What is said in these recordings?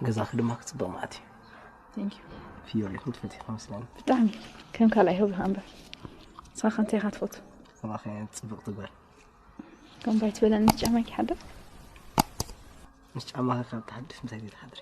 ገዛኺ ድማ ክፅብቕ ማለት እዩ ፍዮሪ ክትፈትሒ ከመስለኒ ብጣዕሚ ከም ካልኣይ ህብኻ እምበር ንስኻ ከ እንታይ ኢኻ ትፈቱ ኣባኸ ፅብቕቲ ጓል ከም ባይ ትበለኒ ምስ ጫማ ይሓድር ምስ ጫማኺ ካብ ትሓድሽ ምሳይ ዘይትሓድሪ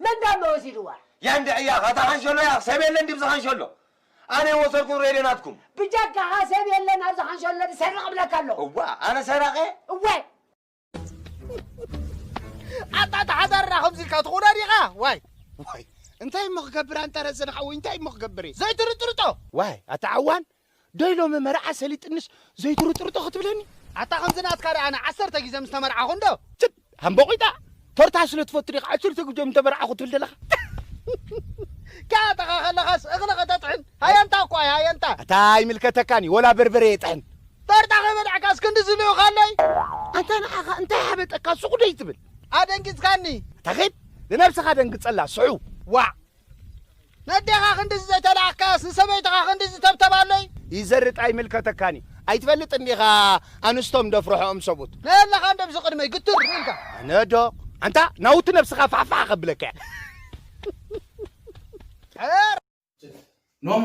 መን ዳሞ ወሲድዋ? ያንዲ ዕያኽ ኣታ ኻንሸሎ ያኽ ሰብ የለን ዲብዚ ኻንሸሎ ኣነ የወሰድኩን ሬድዮ ናትኩም። ብጀካኻ ሰብ የለን ኣብዚ ኻንሸሎ ድሰርቕ እብለካ ኣለኹ። እዋ ኣነ ሰራቂ እየ? እወ። ኣታ እታ ሓዳርና ከምዚ ኢልካ ትኹና ዲኻ ዋይ ዋይ እንታይ እሞ ክገብር ኣንጠረጽ ንሓወይ እንታይ እሞ ክገብር እየ ዘይትርጥርጦ ዋይ ኣታ ዓዋን ዶይ ሎሚ መርዓ ሰሊጥንስ ዘይትሩጥሩጦ ክትብለኒ? ኣታ ከምዚ ናትካ ድኣ ኣነ ዓሰርተ ግዜ ምስ ተመርዓኹ እንዶ። ትፕ ሃምቦቂጣ ቶርታ ስለ ትፈቱ ዲኻ ዓሰርተ ግዜ ምስ ተመርዓኹ ትብል ዘለኻ? ክኣተኻ ከለኻስ እኽሊ ከተጥሕን ሃየንታ እኳ እያ ሃየንታ። ኣታ ኣይምልከተካን እዩ ወላ በርበረ የጥሕን። ቶርታ ከይበላዕካስ ክንድዚ ልኡኽ ኣሎይ? ኣንታ ንዓኻ እንታይ ሓበጠካ ሱቕ ደይትብል። ኣደንጊጽካኒ። ኣታ ኺድ ንነብስኻ ደንግጸላ ስዑው። ዋዕ ነዴኻ ክንድዚ ዘይተላኣኽካያስ ንሰበይትኻ ክንድዚ ተብተባለይ። ይዘርጥ ኣይምልከተካን እዩ ኣይትፈልጥን ዲኻ ኣንስቶም ደፍርሖኦም ሰብኡት። ናይ ኣለኻ እንዶ ብዚ ቅድመይ ግትር ኢልካ። ኣነ ዶ ኣንታ ናውቲ ነብስኻ ፋሕፋሕ ከብለካ እየ። ሕበር። ኖኖ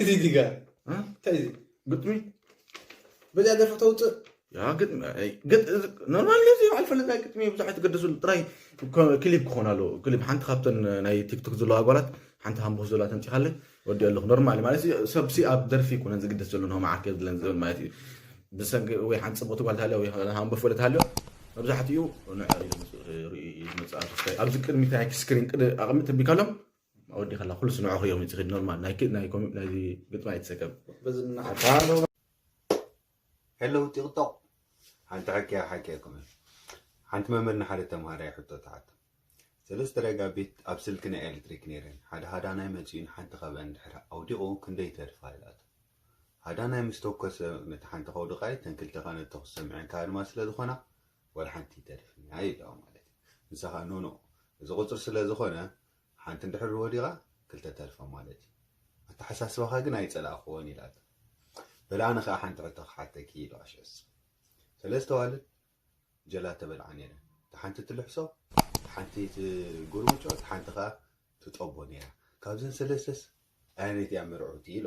እዚ ዲጋ እንታይ እዩ ግጥሚ በዚኣ ደርፊ ተውፅእ ኖርማል እዚ በዓል ፈለታይ ግጥሚ ብዙሓት ገደስሉ ጥራይ ክሊፕ ክኾን ኣለዎ ክሊፕ ሓንቲ ካብተን ናይ ቲክቶክ ዘለዋ ኣጓላት ሓንቲ ሃምቦስ ዘለዋ ተምፂኻለ ወዲኦ ኣለኹ ኖርማል ማለት ሰብሲ ኣብ ደርፊ ይኮነን ዝግደስ ዘሎ ንሆም ዓርከ ዝለን ዝብል ማለት እዩ ብሰንኪ ወይ ሓንቲ ፅቡቕቲ ጓል ታልዮ ወይ ሃምቦ ፈለ ታልዮ መብዛሕትኡ ንዕኡ እዩ ዝመፅእ ኣብዚ ቅድሚት ናይ ስክሪን ቅድ ኣቐሚ ተቢካሎም ኣወዲካ ኣላ ኩሉስ ንዕኹ እዮም ዝኽድ ኖርማል ናይ ናይ ኮሚ ናይ ግጥሚ ኣይትሰከም በዚ ምናሓታ ሄሎ ቲክቶክ ሓንቲ ሓኪያ ሓኪያ ኮመ ሓንቲ መምህር ንሓደ ተምሃራይ ሕቶ ተሓቶ ሰለስተ ረጋ ቤት ኣብ ስልኪ ናይ ኤሌክትሪክ ነይረን ሓደ ሃዳናይ መፅኡን ሓንቲ ካብአን ድሕሪ ኣውዲቑ ክንደይ ተርፋ ኢላቶ ሃዳናይ ምስ ተኮሰ ነቲ ሓንቲ ከውድቃይ ተን ክልተ ከነ ተኩስ ሰምዐን ካብ ድማ ስለ ዝኾና ወላ ሓንቲ ተርፍኒ ኣይለዋ ማለት እዩ ንሳ ከዓ ኖኖ እዚ ቁፅሪ ስለ ዝኾነ ሓንቲ እንድሕር ወዲቓ ክልተ ተርፋ ማለት እዩ። ኣተሓሳስባኻ ግን ኣይጸላእክዎን ኢላቶ። በል ኣነ ከኣ ሓንቲ ሕቶ ክሓተኪ ኢሉ ኣሸስ። ሰለስተ ኣዋልድ ጀላቶ በልዓ ነይረን። እታ ሓንቲ ትልሕሶ፣ እታ ሓንቲ ትጉርምጮ፣ እታ ሓንቲ ከኣ ትጠቦ ነይራ። ካብዘን ሰለስተስ ኣየነይቲ እያ ምርዕውቲ ኢሉ።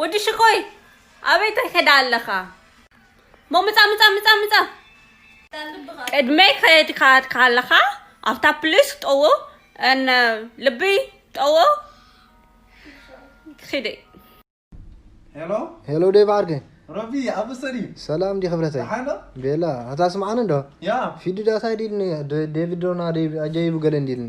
ወዲ ሽኮይ ኣበይ ትከዳ ኣለኻ ሞ ምጻ ምጻ ምጻ ምጻ ቅድመይ ከድካ ካለኻ ኣብታ ፕሊስ ጠዎ እነ ልቢ ጠዎ ኪደ ሄሎ ሄሎ ዴቭ ዓርገ ረቢ ኣብ ሰሪ ሰላም እንዲ ክብረተይ ሓሎ ቤላ ኣታ ስምዓኒ እንዶ ያ ፊዲ ዳታ ዲልኒ ዴቪድ ዶና ኣጀይቡ ገለ እንዲልኒ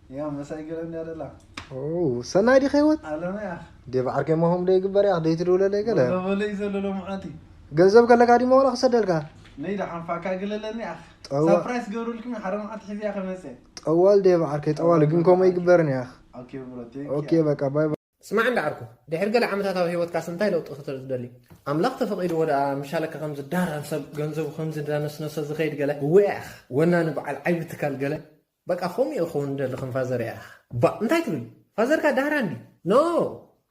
ሰናይ ዲኺ ህይወት ዴቭ ዓርከይ ሞሆም ዶ ይግበር ያኽ ደይ ትድውለለይ ገለ ገንዘብ ከለካ ዲሞ ዋላ ክሰደልካ ጠዋል ዴቭ ዓርከይ ጠዋል ግን ከምኡ ይግበርን ያኽ ኦኬ በቃ ባይ ስማዕ እንዳ ዓርኩ ድሕሪ ገለ ዓመታት ኣብ ህይወትካስ እንታይ ለውጢ ክትርኢ ትደሊ ኣምላኽ ተፈቒድዎ ደኣ ምሻለካ ከም ዝዳራን ሰብ ገንዘቡ ከም ዝዳነስነሰ ዝኸይድ ገለ እወ ያኽ ወናኒ በዓል ዓይቢ ትካል ገለ በቃ ከምኡ ኢዩ ክኸውን ዝደሊ ከም ፋዘር ያኣኽ። ባእ እንታይ ትብል ፋዘርካ ዳህራን ድዩ ኖእ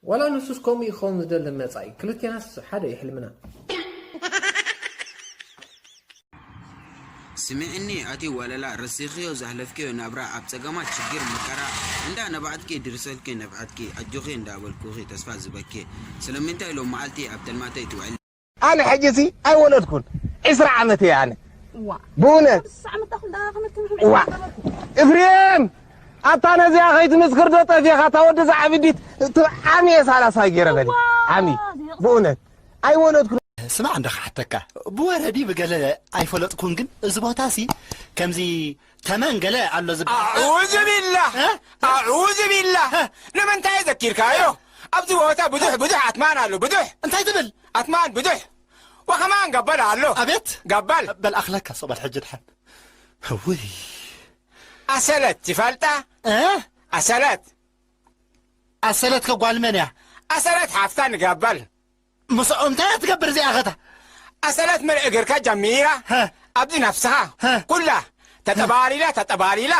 ዋላ ንሱስ ከምኡ ኢዩ ክኸውን ዝደሊ ን መጻኢ ክልቴናስ ሓደ ኢዩ ሕልምና። ስምዕኒ ኣቲ ወለላ ረሲኽዮ ዘሕለፍክዮ ናብራ ኣብ ጸገማት ሽግር መከራ እንዳ ነባዕትኪ ድርሰልኪ ነብዐትኪ ኣጆኺ እንዳ በልኩኺ ተስፋ ዝህበኪ ስለምንታይ ሎምዓልቲ ኣብ ተልማተይ ትውዕሊ። ኣነ ሕጂሲ ኣይወለድኩን ዕስራ ዓመት እየ ኣነ ብእውነት እፍሬም ኣታ ነዚኣ ከይትምስክር ዶ ጠፊኻ እታ ወዲ ዛዕብዲት ዓሚ እየ ሳላሳ ገይረ በለ ዓሚ ብእውነት ኣይወለድኩን ስማዕ እንዳ ክሓተካ ብወረዲ ብገለ ኣይፈለጥኩን ግን እዚ ቦታሲ ከምዚ ተመን ገለ ኣሎ ዝበሃል ኣዑዙ ቢላህ ኣዑዙ ቢላህ ንምንታይ ዘኪርካዮ ኣብዚ ቦታ ብዙሕ ብዙሕ ኣትማን ኣሎ ብዙሕ እንታይ ትብል ኣትማን ብዙሕ ወኸማን ገበል ኣሎ ኣቤት ገበል በል ኣኽለካ ሱቕ በል ሕጂ ድሓን ውይ ኣሰለት ትፈልጣ ኣሰለት ኣሰለት ከጓል መን እያ ኣሰለት ሓፍታ ንገበል ምስኦም እንታይ እያ ትገብር እዚኣ ኸታ ኣሰላት መርኤ ገርካ ጃሚራ ኣብዚ ናፍስኻ ኩላ ተጠባሊላ ተጠባሊላ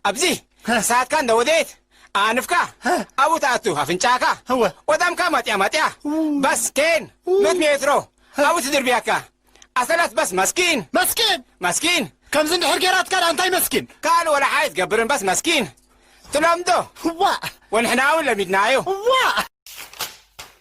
ኣብዚ ክሳትካ እንዳወደየት ኣንፍካ ኣብኡ ትኣቱ ኣፍንጫካ ወዳምካ ማጥያ ማጥያ ባስ ኬን ኑት ሜትሮ ኣብኡ ትድርብያካ ኣሰላት ባስ መስኪን መስኪን መስኪን ከምዚ እንድሕር ጌራትካ ዳ እንታይ መስኪን ካልእ ወላ ሓይ ትገብርን ባስ መስኪን ትለምዶ ዋ ወንሕና እውን ለሚድናዮ ዋ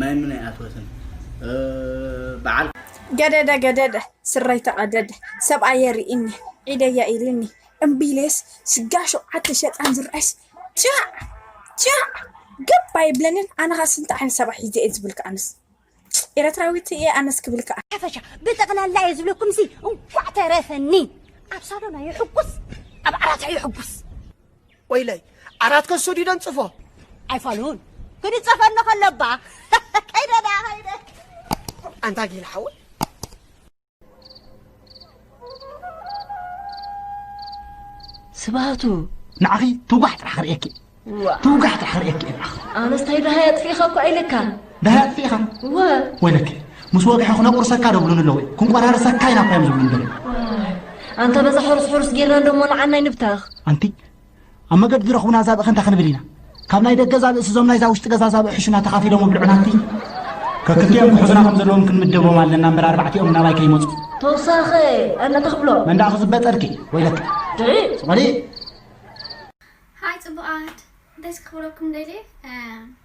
ማይ ምን ኣይኣትወትን በዓል ገደደ ገደደ ስረይ ተቐደደ ሰብኣየ ርኢኒ ዒደያ ኢልኒ እምቢ ኢለስ ስጋ ሸውዓተ ሸጣን ዝርኣይስ ጃዕ ጃዕ ገብ ኣይብለንን ኣነ ኸስ እንታይ ዓይነት ሰብኣይ ሒዘ እየ ዝብልካ ኣነስ ኤረትራዊት እየ ኣነስ ክብል ከኣ ሓፈሻ ብጠቕላላ እየ ዝብለኩም ሲ እንኳዕ ተረፈኒ ኣብ ሳሎና ይሕጉስ ኣብ ዓራታ ይሕጉስ ወይለይ ዓራት ከሱ ድዩ ደንጽፎ ኣይፋሉን ክንጸፈኒ ከለባ ከይደ ደኣ ከይደ ኣንታ ጊል ሓወይ ስባቱ ንዓኺ ትውጋሕ ጥራሕ ክርእየኪ ትውጋሕ ጥራሕ ክርእየኪ እየ ንዓኺ ኣነስ እንታይ ደሃይ ኣጥፊእኻ እኳ ኢለካ ደሃይ ኣጥፊእኻ እወ ወይለከ ምስ ወግሐ ክነቁርሰካ ዶ ብሉኒ ኣለዉ ክንቆራርሰካ ኢና እኳ እዮም ዝብሉኒ ደለዉ ኣንታ በዛ ሕሩስ ሕሩስ ጌርና እንዶ ሞልዓናይ ንብተኽ ኣንቲ ኣብ መገዲ ዝረኽቡና ዛብእ ከንታ ክንብል ኢና ካብ ናይ ደገ ዛብእ ስዞም ናይዛ ውሽጢ ገዛ ዛብእ ሕሹና ተኻፊሎም ብልዑና ኣንቲ ከክልቲኦም ክሕዙና ከም ዘለዎም ክንምደቦም ኣለና እምበር ኣርባዕቲኦም ናባይ ከይመፁ ተውሳኸ ኣነታ ክብሎ መንዳ ክዝበጠርኪ ወይለከ ድዒ ፅቆሊ ሃይ ፅቡቃት ደስ ክብለኩም ደልየ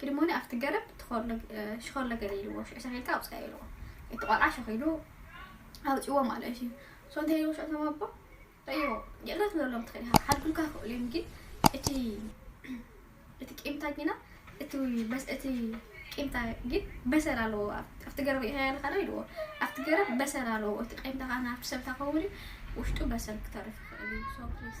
ግድሞኒ ኣብቲ ገረብ ሽኾርለ ገለ ኢልዎ ሽዑ ሰኺልካ ኣውፅኣ ኢልዎ እቲ ቆልዓ ሸኺሉ ኣውፅዎ ማለት እዩ ሶ እንታይ ኢልዎ ሽዑ እቶም ኣቦ ረእይዎ ይቕረ ትብለሎም ትኽእል ኢኻ ክሓድጉልካ ይኽእሉ እዮም ግን እቲ እቲ ቂምታ ግና እቲ በስ እቲ ቂምታ ግን በሰር ኣለዎ ኣብቲ ገረብ ኢኻ ያለካ ዶ ኢልዎ ኣብቲ ገረብ በሰር ኣለዎ እቲ ቂምታ ካና ኣብቲ ሰብታ ከውን ውሽጡ በሰር ክተርፍ ይኽእል እዩ ሶ ፕሊስ